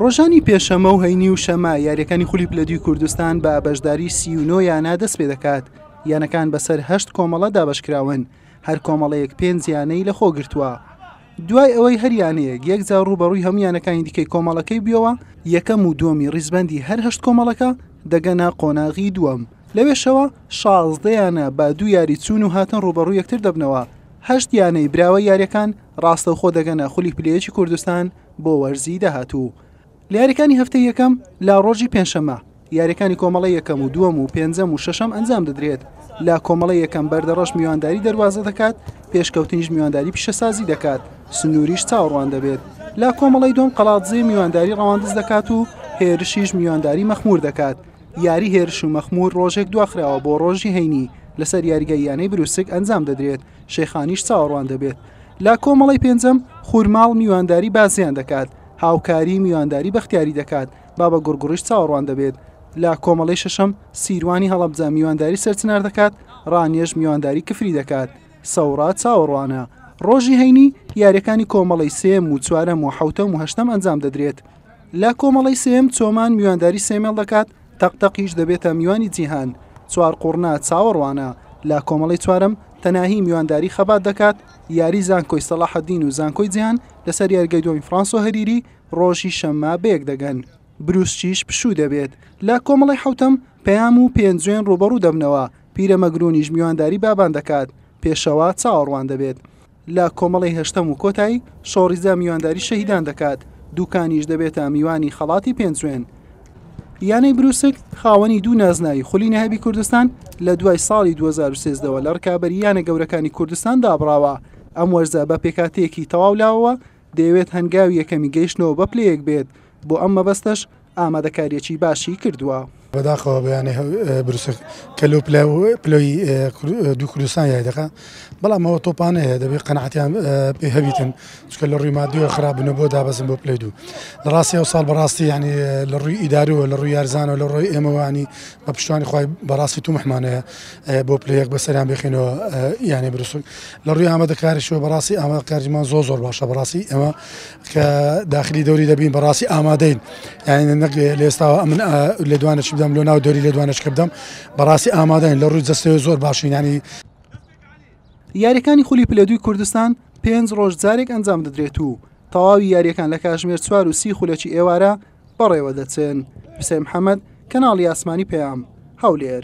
ڕۆژانی پێشەمە و هەینی و شەمە یاریەکانی خولی پلە دوی کوردستان بە بەشداری سی و نۆ یانە دەست پێ دەکات یانەکان بەسەر هەشت کۆمەڵە دابشکراون هەر کۆمەڵەیەک پێنج یانەی لە خۆگرتووە دوای ئەوەی هەریانەیەک یەکجا ڕوبەڕووی هەمویانەکانی دیکەی کۆمەڵەکەی بیەوە یەکەم و دووەمی ڕیزبەندی هەر هەشت کۆمەڵەکە دەگەنە قۆناغی دووەم لەوێشەوە شازدەیانە بە دوو یاری چوون و هاتن ڕوبەڕوو یەکتر دەبنەوە هەشت یانەی براوە یاریەکان ڕاستەوخۆ دەگەنە خولی پلەیەکی کوردستان بۆ وەرزی داهاتوو. لە یاریەکانی هەفتەی یەکەم لە ڕۆژی پێنجشەممە یاریەکانی کۆمەڵی یەکەم و دووەم و پێنجەم و شەشەم ئەنجام دەدرێت لە کۆمەڵی یەکەم بەردەڕەش میوانداری دەواازە دەکات پێشکەوتنیش میوانداری پیشەسازی دەکات سنووریش چاوەڕوان دەبێت لە کۆمەڵی دوم قەڵاتزێ میوانداری ڕەواندز دەکات و هێرشیش میوانداری مەخمور دەکات یاری هێرش و مەخمور ڕۆژێک دواخراوە بۆ ڕۆژی هەینی لەسەر یاریگە یانەی بروسک ئەنجام دەدرێت شێخانیش چاوەڕوان دەبێت. لە کۆمەڵەی پێنجەم خورماڵ میوانداری بازیان دەکات، هاوکاری میوانداری بەختیاری دەکات، بابە گوڕگوڕیش چاوەڕوان دەبێت. لە کۆمەڵەی شەشەم سیروانی هەڵەبجە میوانداری سەرچنار دەکات، ڕانیەش میوانداری کفری دەکات. سەوڕا چاوەڕوانە. ڕۆژی هەینی یاریەکانی کۆمەڵەی سێم و چوارەم و حەوتەم و هەشتەم ئەنجام دەدرێت. لە کۆمەڵەی سێم چۆمان میوانداری سێمێڵ دەکات، تەق تەقیش دەبێتە میوانی جیهان، چوار قوڕنە چاوەڕوانە لە کۆمەڵەی چوارەم، تەناهی میوانداری خەبات دەکات، یاری زانکۆی سەڵاحەدین و زانکۆی جیهان لەسەر یاریگای دووەمی فڕانسۆ هەریری ڕۆژی شەممە بەیەک دەگەن. بروسکیش پشوو دەبێت لە کۆمەڵەی حەوتەم، پەیام و پێنجوێن ڕووبەڕوو دەبنەوە، پیرەمەگروونیش میوانداری بابان دەکات، پێشەوا چاوەڕوان دەبێت. لە کۆمەڵەی هەشتەم و کۆتایی شۆڕیزە میوانداری شەهیدان دەکات، دوکانیش دەبێتە میوانی خەڵاتی پێنجوێن. یانەی بروسک خاوەنی دوو نازناوی خولی نەهابی کوردستان لە دوای ساڵی دوو هەزار و سێزدە وە لە ڕکابەری یانە گەورەکانی کوردستان دابڕاوە، ئەم وەرزە بە پێکهاتەیەکی تەواو لاوەوە دەیەوێت هەنگاوی یەکەمی گەیشتنەوە بە پلەیەک بێت، بۆ ئەم مەبەستەش ئامادەکارییەکی باشی کردووە. بەداخەوە بەیانەی بروسک کە لەو پلەی دوو کوردستان یای دەکا بەڵام ئەوە تۆپانەیە دەبێت قەنعاتیان پێ هەبیتن چکە لە ڕووی مادیەوە خراپبنە بۆ دابەزن بۆ پلی دوو لە ڕاستی ئەو ساڵ بەڕاستی ینی لە ڕووی ئیدارووە لە ڕووی یارزانەوە لە ڕۆی ئێمەوانی بە پشتوانی خی بەڕاستی تومحمانەیە بۆ پلەیەک بەسەریان بخینەوە یانێ بروسک لە ڕووی ئامادەکاریشەوە بەڕاستی ئامادەکاریمان زۆر زۆر باشە بەڕاستی ئێمە کە داخلی دەوری دەبین بەڕاستی ئامادەین یاینە نەک لێستاوە من لێدوانەش بدەم لۆ ناو دەوری لێدوانش کردم بەڕاستی ئامادەین لە ڕووی جستەوە زۆر باشینانی یاریەکانی خولی پلەدوی کوردستان پێنج ڕۆژ جارێک ئەنجام دەدرێت و تەواوی یاریەکان لە کاژمێر چوار و سی خولەکی ئێوارە بەڕێوە دەچن حسێن حەمەد کەناڵی ئاسمانی پەیام هەولێر